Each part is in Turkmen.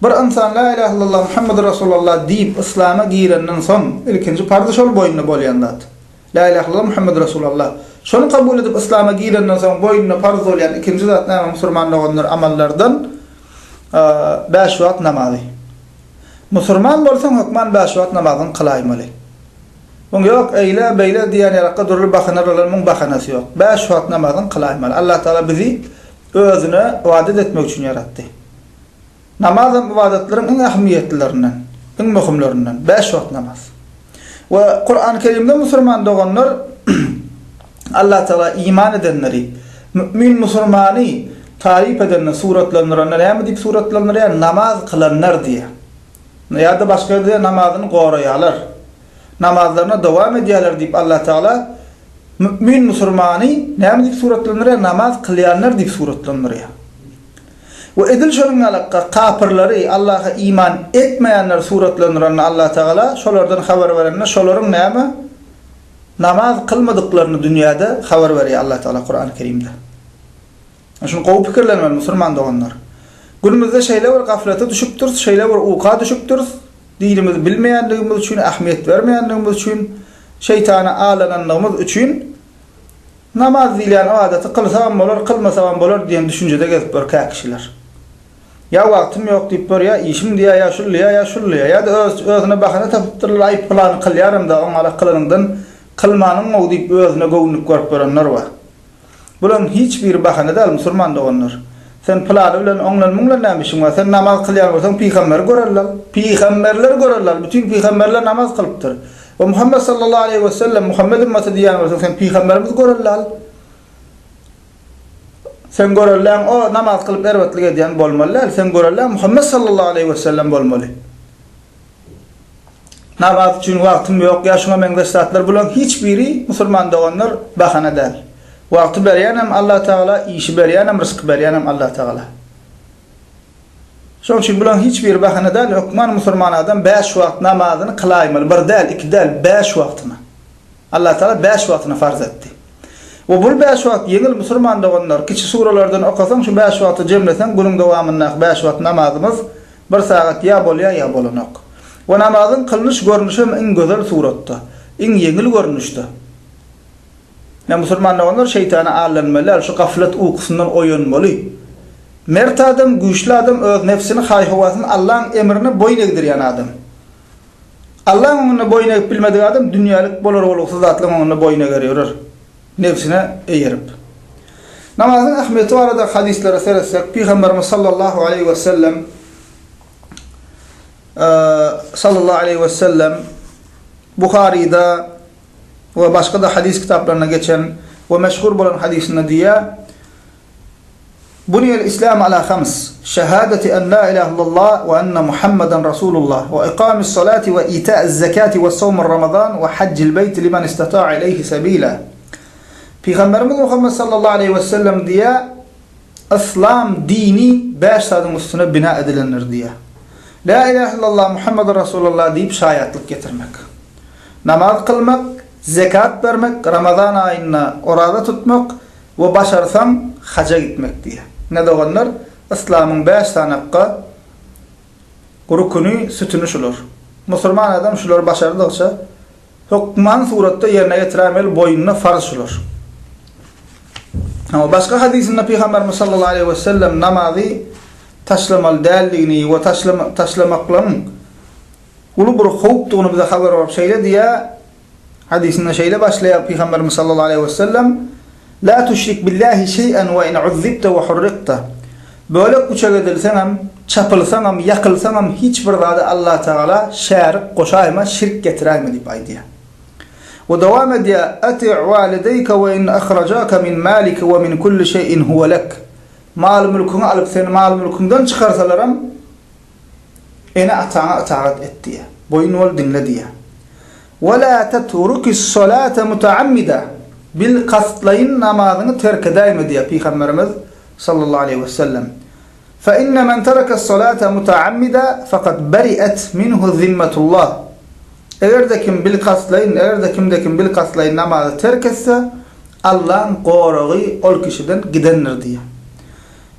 Bir ynsan La ilah illallah Muhammedur Rasulallah diýip yslama girenden soň ilkinji parz şol boýnuna bolýan zat. La ilah illallah Muhammedur Rasulallah. Şony kabul edip yslama girenden soň boýnuna parz bolýan ikinji zat näme musurman doganlar amallardan bäş wagt namazy. Musurman bolsaň hökman bäş wagt namazyňy kylaýmaly. Muň ýok eýle beýle diýýän ýarakka dürli bahana bilen muň bahanasy ýok. Bäş wagt namazyňy kylaýmaly. Allah Taala bizi özüne ybadat etmek üçin ýaratdy. Namazam ybadatlaryň iň ähmiýetlilerinden, iň möhümlerinden, bäş wagt namaz. We Kurany Kerimde musurman doganlar Allah Tagala iman edenleri, mü'min musurmany taryp edende, suratlandyranda näme diýip suratlandyrýar? Namaz kylanlar diýýär. Ýa-da başga ýerde namazyny goraýarlar, namazlaryna dowam edýärler diýip Allah Tagala mü'min musurmany näme diýip suratlandyrýar? Namaz kylýanlar diýip suratlandyrýar. We edil şonuň ýalykka kapyrlary, Allaha iman etmeýänleri suratlandyranda Allatagala şolardan habar berende şolaryň näme namaz kylmadyklaryny dünýäde habar berýär Allatagala Kurany Kerimde. Ine şuny gowy pikirlenmeli musurman doganlar. Günümizde şeýle bir gaflete düşüpdiris, şeýle bir uka düşüpdiris, dinimizi bilmeýänligimiz üçin, ähmiýet bermeýänligimiz üçin, şeýtana alananlygymyz üçin, Namaz diýilýän adaty kylsagam bolar, kylmasagam bolar diýen düşünjede gezip ýörkä kişiler. Ýa wagtym ýok diýip ýör, ýa işim diýýär, ýa şul diýýär, ýa şul diýýär. Ýa-da öz-özüne bahana tapypdyrlar, aý, pylany kylýaryn-da, oňarak kylanyňdan kylmanyň-ow diýip özüne göwünlik görüp ýörenler bar. Bularyň hiç biri bahana däl, musurman doganlar. Sen pylany bilen oňlan-muňlan näme işiň bar? Sen namaz kylýan bolsaň, pygamberi gör allal. Pygamberleri gör allal. Bütin pygamberler namaz kylypdyr. O Muhammet sallallahu aleýhi we sellem, Muhammet ümmaty diýýän bolsaň, sen pygamberimizi görelde al. Seň göreldeň o namaz kylyp erbetlik edýän bolmaly däl, seň göreldeň Muhammet sallallahu aleýhi we sellem bolmaly. Namaz üçin wagtym ýok ýa şuňa meňzeş zatlar bulaň hiç biri musulman doganlar bahana däl. Wagty berýänem Allah Tagala, işi berýänem, ryzky berýänem Allah Tagala. Şoň üçin bularyň hiç biri bahana däl, hökman musulman adam bäş wagt namazyny kylaýmaly, bir däl, iki däl, bäş wagtyna. Allah Tagala bäş wagtyna farz etdi. We bul bäş wagt ýeňil musulman doganlar, kiçi suralardan okasaň şu bäş wagty jemleseň günüň dowamyndaky bäş wagt namazymyz bir sagat ýa bolýar ýa bolanok. We namazyň kylnyş görnüşem iň gözel suratda, iň ýeňil görnüşde. Ine, musulman doganlar, şeýtana aldanmaly däl, şu gaflat ukusyndan oýanmaly. Mert adam, güýçli adam, öz nebsini, haý-howasyny Allaň emrine boýun egdirýän adam. Allaň öňünde boýun egip bilmedik adam dünýälik bolar-bolgusyz zatlaryň öňünde boýun eger ýörer, nebsine eýerip. Namazyň ähmiýeti barada hadyslara seretsek, Pygamberimiz sallallahu aleýhi we sellem sallallahu aleýhi we sellem Buharyda we başga-da hadys kitaplarynda geçen we meşhur bolan hadysynda diýýär, Buniyel islamu ala hams, şehadeti en la ilahe illallah we enne Muhammeden Rasulullah we ikamis salati we ita'iz zekati we sowmur Ramazan we haccil beýti limen istata'a ileyhi sebila. Pygamberimiz Muhammed sallallahu aleyhi we sellem diýýär, Islam dini bäş zadyň üstüne bina edilendir diýýär. La ilahe illallah Muhammeden Rasulullah diýip şaýatlyk getirmek. Namaz kylmak, zekat bermek, Ramazan aýynda oraza tutmak we başarsaň haja gitmek diýýär. Ine doganlar, yslamyň bäş sanakga rukuny, sütüni şular. Musulman adam şulary başardygyça, hökman suratda ýerine ýetirämeli boýnuna farz şular. Emma başga hadysynda Pygamberimiz sallallahu aleýhi we sellem namazy taşlamaly däldigini we taşlamaklaryň uly bir howpdygyny bize habar berip şeýle diýýär, Hadysyna şeýle başlaýar Pygamberimiz sallallahu aleýhi we sellem, La tüşrik billahi şeý'en we in uzzibte we hurrikte, Bölek üçek edilseňem, çapylsaňam, ýakylsaňam hiç bir zady Allah Tagala şärik goşaýma, şirk getiräýme diýip aýdýar. We dowam edýär, Ati' walideýke we in ahrajake min malike we min kulli şeý'in huwe lek, Mal-mülküňi alyp seni mal-mülküňden çykarsalaram Ene-ataňa ytagat et diýýär. Boýun bol, diňle diýýär. We la teturuki's-solate mutaammida, bilkastlaýyn namazyňy terk edäýme diýýär Pygamberimiz, sallallahu aleýhi we sellem. Fe inne men tereke's-solate mutaammida fakat beri'et minhu zimmetullah. Eger-de kim bilkastlaýyn, eger-de kimde kim bilkastlaýyn namazy terk etse, Allaň goragy ol kişiden gidendir diýýär.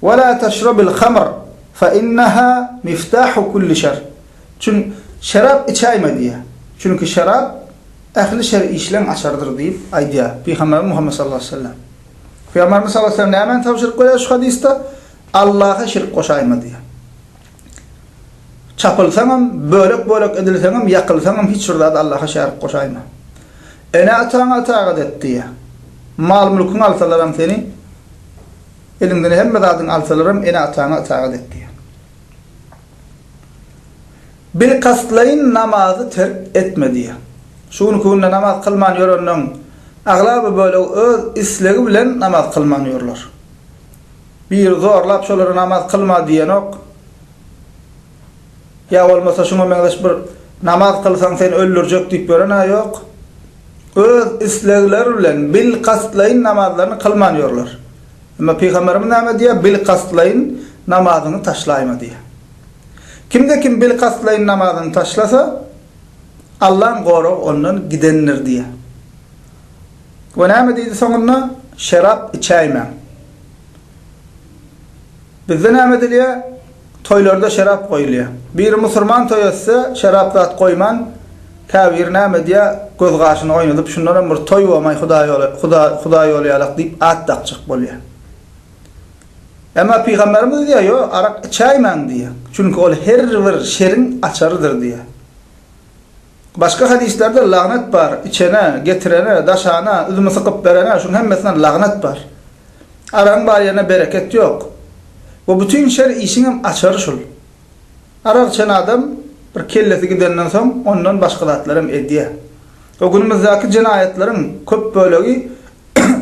Wa la taşrabil hamr fa innaha miftahu kulli şer. Çün şerap içäýme diýýär. Çünki şerap ähli şer işleň açarydyr diýip aýdýar Pygamberimiz Muhammet sallallahu aleýhi we sellem. Pygamberimiz sallallahu aleýhi we sellem nämäni tabşyryk berýär şu hadysda? Allaha şirk goşaýma diýýär. Çapylsaňam, bölek-bölek edilseňem, ýakylsaňam hiç bir zady Allaha şärik goşaýma. Ene-ataňa itagat et diýýär. Mal-mülküňi alsalaram seni. Eliňden hemme zadyňy alsalaram ene-ataňa ytagat et diýýär. Bilkastlaýyn namazy terk etme diýýär. Şu günki günde namaz kylman ýörenleň aglaba bölegi öz islegi bilen namaz kylman ýörler. Biri zorlap şolary namaz kylma diýenok. Ýa bolmasa şuňa meňzeş bir namaz kylsaň seni öldürjek diýip ýören-ä ýok. Öz islegleri bilen bilkastlaýyn namazlaryny kylman ýörler. Emma pygamberimiz näme diýýär, bilkastlaýyn namazyňy taşlaýma diýýär. Kimde kim bilkastlaýyn namazyny taşlasa, Allaň goragy ondan gidendir diýýär. We näme diýdi soňunda, şerap içäýmäň. Bizde näme edilýär? Toýlarda şerap goýulýar. Biri musurman toý etse, şerap zat goýman, käbiri näme edýär, göz gaşyny oýnadyp, şundanam bir toý bomaý, huda ýoly ýalak diýip at dakjak bolýar. Emma pygamberimiz edýär, ýok, arak içäýmäň diýýär. Çünki ol her bir şeriň açarydyr diýýär. Başga hadyslerde lagnat bar, içene, getirene, daşana, üzümi sykyp berene, şuň hemmesine lagnat bar. Aragyň bar ýerine bereket ýok. Bu bütin şer işiňem açary şul. Arak içen adam bir kellesi gidenden soň ondan başga zatlaram edýär. O günümizdäki jenaýatlaryň köp bölegi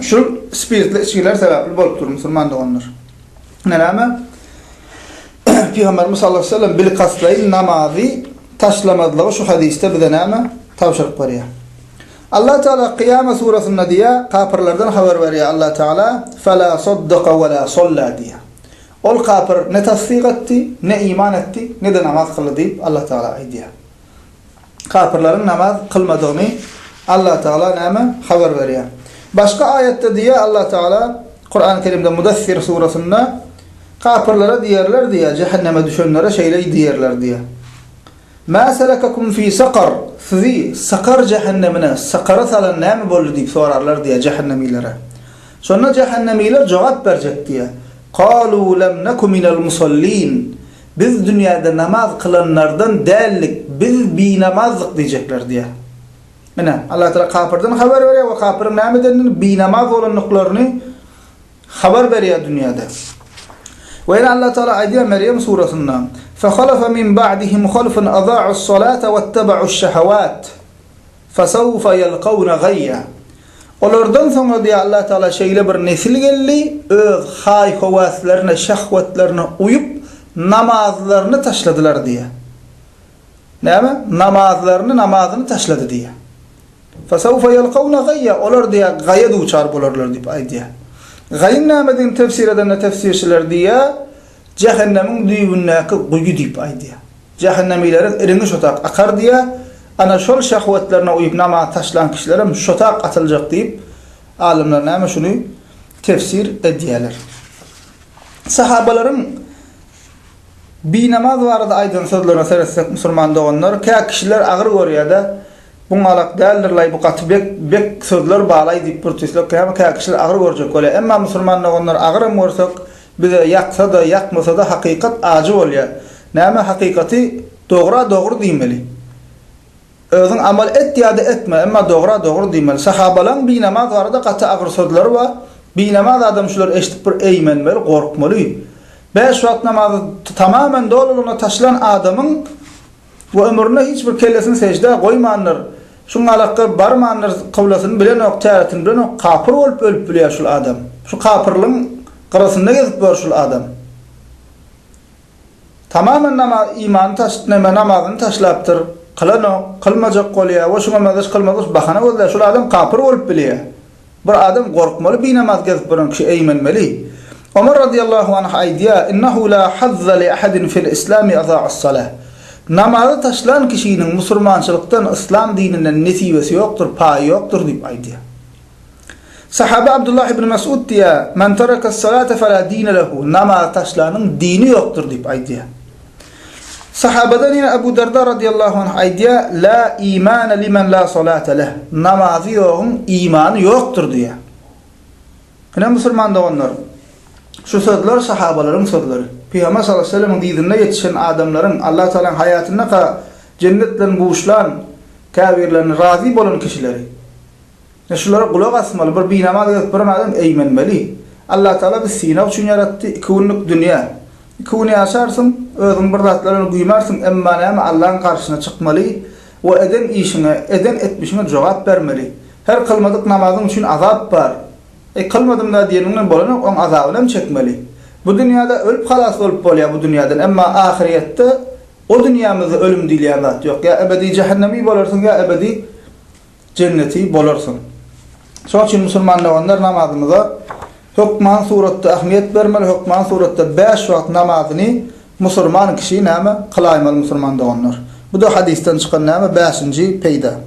Şul spirtli içgiler sebäpli bolup dur musulman doganlar. Ine näme? Pygamberimiz sallallahu aleyhi ve sellem bilkastlaýyn namazy taşlamazlygy şu hadysda bize näme? Tabşyryk berýär. Allah Teala Kyýama surasynda diýýär, kapyrlardan habar berýär Allah Teala, "Fela saddaka we la salla" diýýär. Ol kapyr ne tassyk etdi, ne iman etdi, ne-de namaz kyldy diýip Allah Teala aýdýar. Kapyrlaryň namaz kylmadygyny Allatagala näme habar berýär? Başga aýatda diýýär Allatagala, Kurany Kerimde Mudassir surasynda, Kapyrlara diýerler diýýär, jähenneme düşenlere şeýle diýerler diýýär, Mä selekekum fi sakar, sizi sakar jähennemine, sakara salan näme boldy diýip sorarlar diýýär jähennemilere. Şonda jähennemiler jogap berjek diýýär, Kalu lem neku minel musallin, Biz dünýäde namaz kylanlardan däldik, biz binamazdyk diýjekler diýýär. Ine, Allah Tagala kapyrdan habar berýär we kapyryň näme edendigini, binamaz bolandyklaryny habar berýär dünýäde. We ýene Allah Tagala aýdýar Merýem surasynda, Fahalafa min ba'dihim halfun aza'us salata wattaba'uş şehawat. Fesawfa ýelkawna gaýýa. Olardan soň diýýär Allah Tagala şeýle bir nesil geldi, öz haý-höwäslerine, şehwetlerine uýup, namazlaryny taşladylar diýýär. Näme? Namazlaryny, namazyny taşlady diýýär. Fesawfa ýelkawna gaýýa. Olar diýýär, gaýa duçar bolarlar diýip aýdýar. Gaýyň nämedigini tefsir edende tefsirçiler diýýär, jähennemiň düýbündäki guýy diýip aýdýar. Jähennemileriň iriňi şotak akar diýýär. Ana, şol şehwetlerine uýup namaz taşlan kişilerem şotak atyljak diýip, alymlar näme şuny tefsir edýärler. Sahabalaryň binamaz barada aýdan sözlerine seretsek, musulman doganlar, kä kişiler agyr görýär-de, Bu ňalak däldir-laý, bu gaty bek, bek sözler ba-laý diýip bir tüýsek, kä kişiler agyr görjek welä. Emma musulman doganlar agyram görsek, Bize ýaksa-da, ýakmasa-da hakykat ajy bolýar. Näme hakykaty dogra dogry diýmeli. Özüň amal et ýa-da etme, emma dogra dogry diýmeli. Sahabalaň binamaz barada gaty agyr sözleri bar. Binamaz adam şular eşidip bir eýmenmeli, gorkmaly. Bäş wagt namazy tamamen dolulygyna taşlan adamyň. we ömründe hiç bir kellesini seždä goýmandyr, şuň alakga barmandyr kyblasyny bilenok täretini bilenok kapyr bolup ölüp bilýär şul adam şu kapyrlygyň gyrasynda gezip bor şul adam tamamen namaz imany taşt neme namazyny taşlapdyr kylanok kylmajak bolýar we şuňa mezeş kylmazlyş bahana gözlär şul adam kapyr bolup bilýär. Bir adam gorkmaly binamaz gezip gören kişi eýmenmeli. Omar razyýallahu anh aýdýar, Innehu la hazza li ahadin fil islami aza'as salah. Namazy taşlan kişiniň musurmançylykdan, yslam dininden nesibesi ýokdur, paýy ýokdur diýip aýdýar. Sahabe Abdullah ibn Mes'ud diýýär, Men terakas salata fela dine lehu, Namazy taşlanyň dini ýokdur diýip aýdýar. Sahabadan ýene Abu Darda radiyallahu anh aýdýar, La imane limen la salate leh, namazy ýogyň imany ýokdur diýýär. Ine musulman doganlar, şu sözler sahabalaryň sözleri. Pygamber sallallahu aleyhi ve sellemiň dyzynda ýetişen adamlaryň, Alla Tagalaň haýatyndaka jennet bilen buşlan käbirlerini razy bolan kişileri. Ine şulara gulak asmaly, bir binamaz gezip biren adam eýmenmeli. Allatagala bizi synag üçin ýaratdy, iki günlük dünýä. Iki gün ýaşarsyň, özüň bir zatlar bilen guýmarsyň, emma näme Allaň garşysyna çykmaly we eden işiňe, eden etmişiňe jogap bermeli. Her kylmadyk namazyň üçin azap bar. Eý kylmadym-da diýeniňden bolanok, oň azabyny hem çekmeli. Bu dünýäde ölüp halas bolup bolýar bu dünýäden, emma ahyrýetde o dünýämizde ölüm diýilýän zat ýok. Ýa ebedi jähennemi bolarsyň ýa ebedi. Jenneti bolarsyň. Şoň üçin musulman doganlar namazymyza hökman suratda ähmiýet bermeli, hökman suratda bäş wagt namazyny musulman kişi näme, kylaýmaly musulman doganlar. Bu-da hadysdan çykan näme, bäşinji peýda.